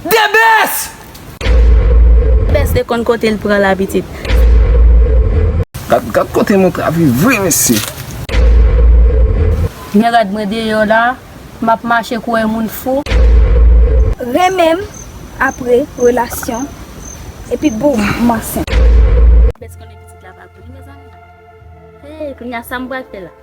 The best! The best de konn kote l pran la pitit. Gad kote moun travy vre mesye. Men rad mwen deyò la. Map mache kou yn moun fou. Renmenm apre relasyon epi boom m ansent. The best konnen pitit la pa pou li mezanmi. Hey kounya sam pral fè la.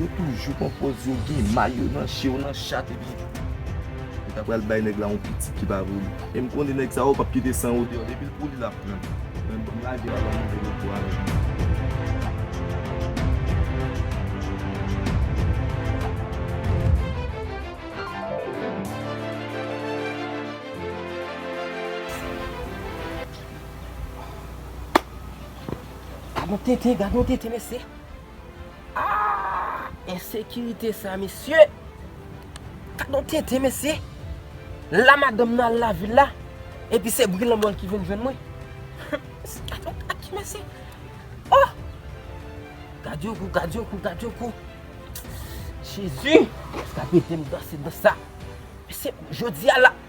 Yo toujou pran pòz yo gen may yo nan je yo nan chat epi yo ta pral bay nèg la yon pitit ki pa pou li. E m konnen nèg sa yo pap kite san yo deyò depi l pou li l ap pran li. Menm banm lage l avan m rive lòt bò a avèk li. Gad yon tenten gad yon tenten mesye. Aah ensekirite sa mesye. Gadon tenten mesye. La madanm nan al lavil la epi se bri lanmò l ki vin jwenn mwen. Humm gadon kaki mesye. Ohh. Gad yon kou gad yon kou gad yon kou. Jezi. Sa pete m danse dans sa. Mesye jodi a la.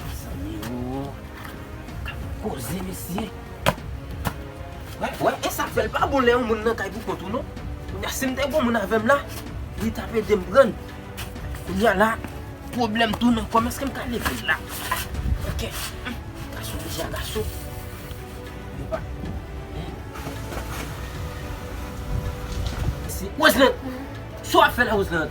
Mezanmi oo Kap koze mesye Wè wè esak fèl pa bon lè yon moun nan kay pou kont ou non Kounya sim te gon moun avèm la li tap edem prann Kounya la pwoblèm tou nan kòm eskem ka level la Ok Gason ki ja gason Epa Mesi Roseland Sa wap fè la Roseland.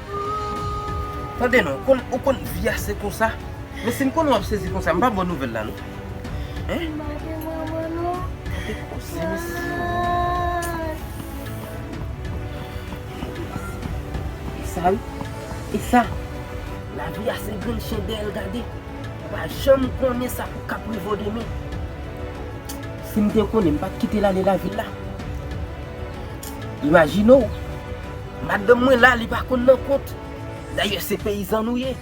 Tande non, ou konn vi a se konsa. Men si m konnen w ap sezi konsa, m pa ba w nouvèl la non. Hein? M pa gen manman non. Ou te koze mesye o. E sa wi. E sa. Lavi a se grenn chendèl gade. Ou pa janm konnen sa k ap rive w demen. Si m te konnen, m pa t kite l ale lavil la. Imajine w. Madanm mwen la li pa konn nan kont. Dayè se peyizan nou ye.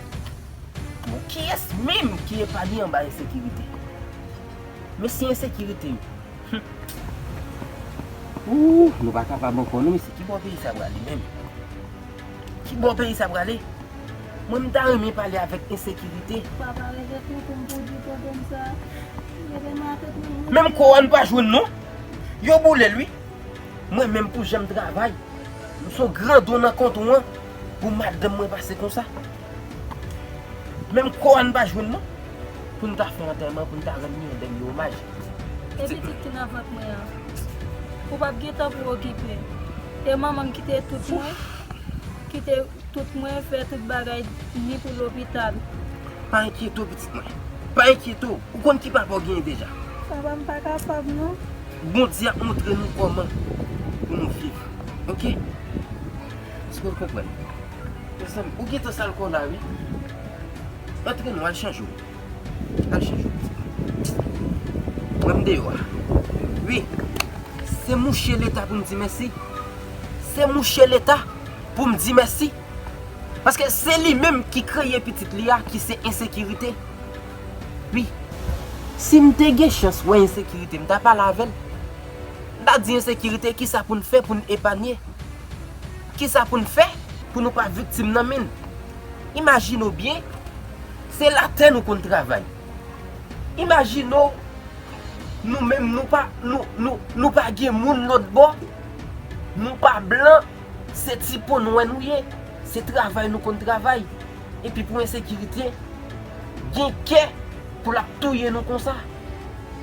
Bon kiyès menm ki epanye anba ensekirite? Mesi ensekirite yo. Hum. Ooh nou pa kapab ankò non mesye. Ki bò peyi sa prale menm? Ki bò peyi sa prale? Mwen m ta renmen pale avèk ensekirite. Papa rete tou pou m poudi pwoblèm sa. Rete m atè tou. Menm kò a nou pa jwenn non. Yo boule l wi. Mwen menm pou janm travay m son gran don nan kont wan pou madanm mwen pase konsa menm kò an n pa jwenn non pou n ta fè antèman pou n ta rann li yon dènye omaj. E pitit ki nan vant mwen an? Ou pap gen tan pou okipe. E manman m kite tout mwen? Kite. Tout mwen fè tout bagay ni pou lopital. Pa enkyete w pitit mwen. Pa enkyete w. Ou konn ki papa w genyen deja. Papa m pa kapab non. Bondye ap montre nou kòman pou nou viv ok. Eske w konprann. Mezanmi ou gentan sal kò w la wi. Antre non al chanje w. Al chanje w pitit mwen. Mwen m deyò a wi. Se mouche leta pou m di mèsi. Se mouche leta. Pou m di mèsi. Paske se li menm ki kreye pitit li a ki se ensekirite. Wi. Si m te gen chans wè ensekirite m ta pale avè l. M ta di ensekirite kisa pou n fè pou n epanye. Kisa pou n fè pou nou pa viktim nan men l. Imajine w byen se latè nou konn travay. Imajine w nou menm nou pa gen moun lòtbò. Nou pa blan. Se ti po nwè nou ye, se travay nou konn travay, epi pou ensekirite gen kè pou lap touye nou konsa.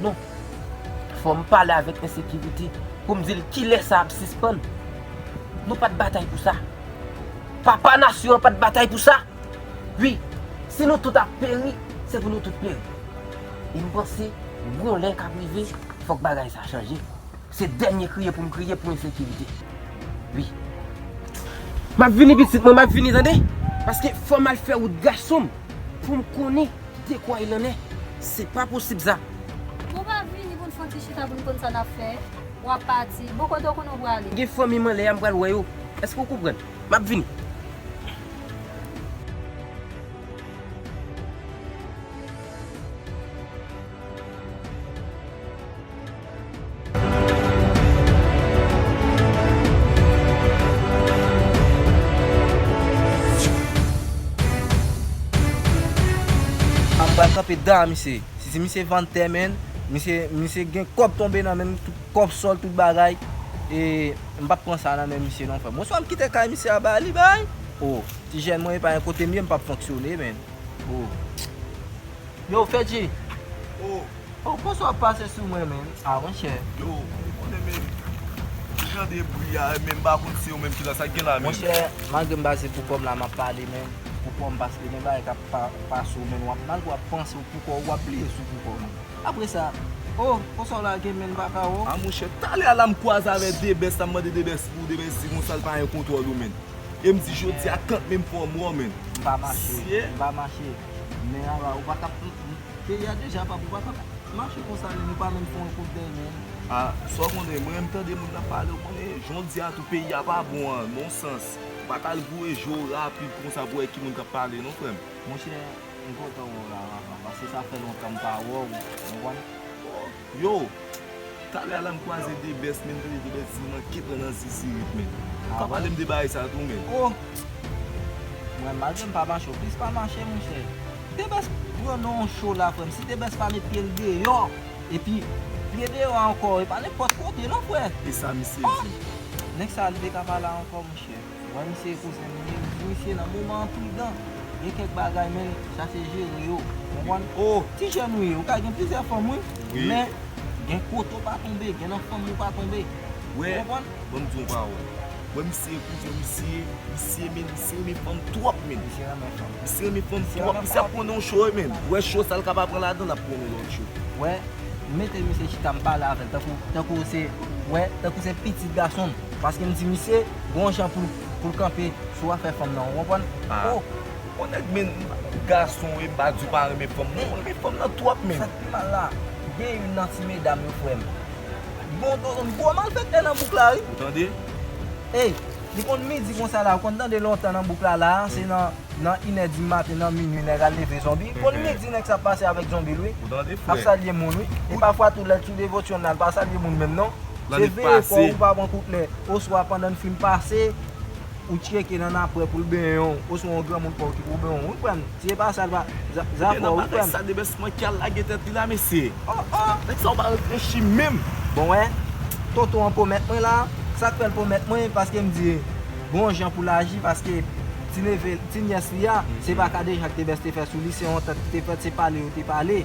Non, fòm pale avèk ensekirite poum dil kilè sa ap sispann. Nou pat batay pou sa. Papa nasyon an pat batay pou sa. Wi, si nou tout ap peri, se pou nou tout peri. E m panse, gon lè kap rive, fòk bagay sa chanje. Se dènye kriye poum kriye pou ensekirite wi. Map vini pitit mwen map vini tande paske fòm al fè wout gasonm poum konnen dekwa il en est se pa posib sa. Bon pa vini pou n fon ti chita pou n konn sa nap fè wap pati bon kote w konnen w prale. Gen fanmim anlè a m pral wè yo eske w konprann map vini. Anbal kanpe da misye. Si ti misye vann tè menn, misye misye gen kòb tonbe nan menn, kòb sòl tout bagay e m pap pran sa nan men misye non frè m. Ou swa m kite kay misye a ba li bay. Oh ti jèn mwen epa gen kote m ye m pap fonksyone menn. Oh. Yo Fedji. Oh. Ou konsa wap pase sou mwen menm ah monchè. Yo ou konnen menm m tande bri a menm m pa konn se ou menm ki la sak gen la menm. Monchè malgre m pase pou kòm la map pale menm pou kòm paske gen bagay kap pase ou menm wap malgre wap panse ou pou kòw wap bliye sou pou kòm. Apre sa oh konsa w lage menm baka oh. Ah monchè talè a la m kwaze avè debès la m mande debès pou debès di konsa l pa yon kontwòl ou menm e m di jodi a kant menm fòm wè w menm. M pa mache m pa mache men a la ou paka Peyi a deja pa pou pa ka mache konsa menm yo pa menm fè yon kout dèy menm. Ah sa w konnen mwen renmn tande moun kap pale w konnen jondya tou peyi a pa bon an non sans ou pa ka al voye je w rapid konsa pou wè ki moun kap pale non frè m. Monchè m kontan wè w la Rafa paske sa fè lontan m pa wè w ou konprann. Yo! Talè a la m kwaze de best men m tande de best di m manke pran nan zizirip men. Pa pale m de bagay sa tou men. Oh! Mwen malgre m pa mache ou plis pa mache monchè. De best pran nan yon show la frè m si de best pa met pye l deyò epi pye deyò ankò e pa nenpòt kote non frè. E sa misye di? Oh! Nèg sa li te ka pa la ankò monchè. Wè misye kouzen m ye wi misye nan moman enpridan gen kèk bagay menn chache jere yo ou konprann oo ti jèn ou ye ou ka gen plizyè fanm wi men gen kote ou pa tonbe gen nan fanm ou pa tonbe ou konprann. Wè banm di w yon pawòl wè misye kouzen misye misye menn misye renmen fanm twòp menn misye renmen fanm misye renmen fanm twòp misye ap konnen yon cho menn wè cho sa l ka pa pran ladan l ap konnen yon lòt cho wè m mete misye chita m pale avè l tankou tankou se wè tankou se pitit gason m. Paske m di misye gon jan pou l kanpe sou afè fanm nan ou konprann. Ohh bon nèg men m pa menm gason e m pa di w pa renmen fanm non, mwen renmen fanm nan twòp menn. Sak pi mal la, gen youn nan ti medam yo kwè m. Bon do zonbi gwo malfèktè nan bouk la wi. Ou tande? Ey, li konn midi konsa la ou konn tande lontan nan bouk la la a se nan inè di maten nan minui nèg al leve zonbi, konn midi nèg sa ap pase avèk zonbi l wi. Ou tande frè? Ap salye moun wi. E pafwa tou lè t sou devotyon nan l pa salye moun menm non. Se veye kò ou pa pran kout lè, oswa pandan n fin pase, ou tcheke nan napwè pou l benyen w, oswa yon granmoun pa w ki pou benyen w, ou konprann? Si se pa sa l pa, za fè w, ou konprann? Gen nan bagay sa Debès manke ki al lage tèt li la mesye! O o! Nèg sa yo pa reflechi menm! Bon wè, tonton an pwomèt mwen la, sa k fè l pwomèt mwen, paske m di l, bon jan pou l aji, paske ti neve, ti nyès li a, se pa kadejak Debès te fè sou li, se yon antant ki te fèt, se pale yo te pale.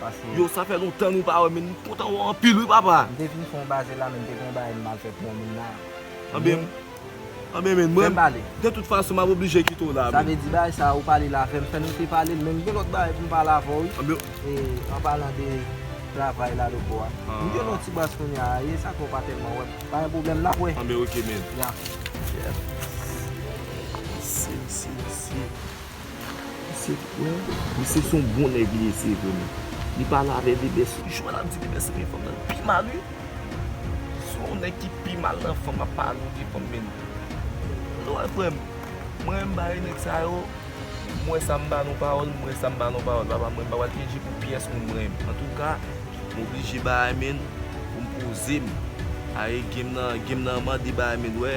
Paske. Yo sa fè lontan nou pa wè men m kontan wè w anpil wi papa. M te vin fon baze la men m te gen yon bagay m mal fè pou yon moun la. Anben m. Anben men mwen. Fè m pale. De tout fason m ap oblije kite w la men. Sa vle di bagay sa ou pale la avè m fè n rete pale l men m gen lòt bagay pou m pale avè w wi. Anben. E an palan de travay la loco a. M gen yon ti bas kounye a e sa fè w pa tèlman wè m. Pa gen pwoblèm n ap wè. Anben ok men. Ya. Yes. Mesye mesye mesye. Misye t wè. Misye son bon nèg li ye se vre men li pale avè bebès jwè lap di bebès renmen fanm nan li pi mal wi son nèg ki pi mal nan fanm ap pale ou gen fanm menl nou wè frèm mwen menm bare nèg sa yo m wè sa m ba nou pawòl m wè sa m ba nou pawòl papa mwen m pa pral pyeje pou pyès moun mwen menm antouka m oblije bare menl pou m poze m bare game nan game nan mande bare menl wè.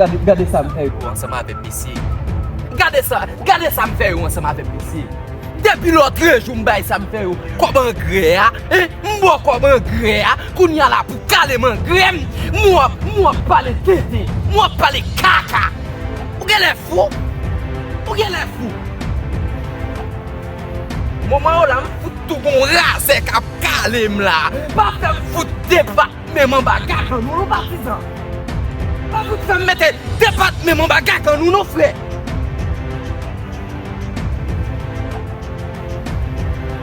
Gade sa m fè yo ansanm avèm mesye Gade sa Gade sa m fè yo ansanm avèm mesye Depi lòtrejou m bay sa m fè yo kòb angrè a M ba w kòb angrè a Kounye a la pou w kale m angrè m M wè w ap pale tenten M wè w ap pale kaka Ou genlè fou Ou genlè fou Moman yo la m fout tou gon razè k ap kale m la Pa fè m fout deba Menm anba gak an nou non patizan. Pa fout fèm mete 2 pat menm anba gak an nou non frè.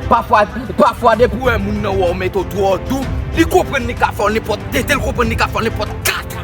Pafwa, pafwa depi ou wè moun nan wè ou mete ou twò dou, li konprann li ka fè ou nenpòt, detel konprann li ka fè ou nenpòt kaka.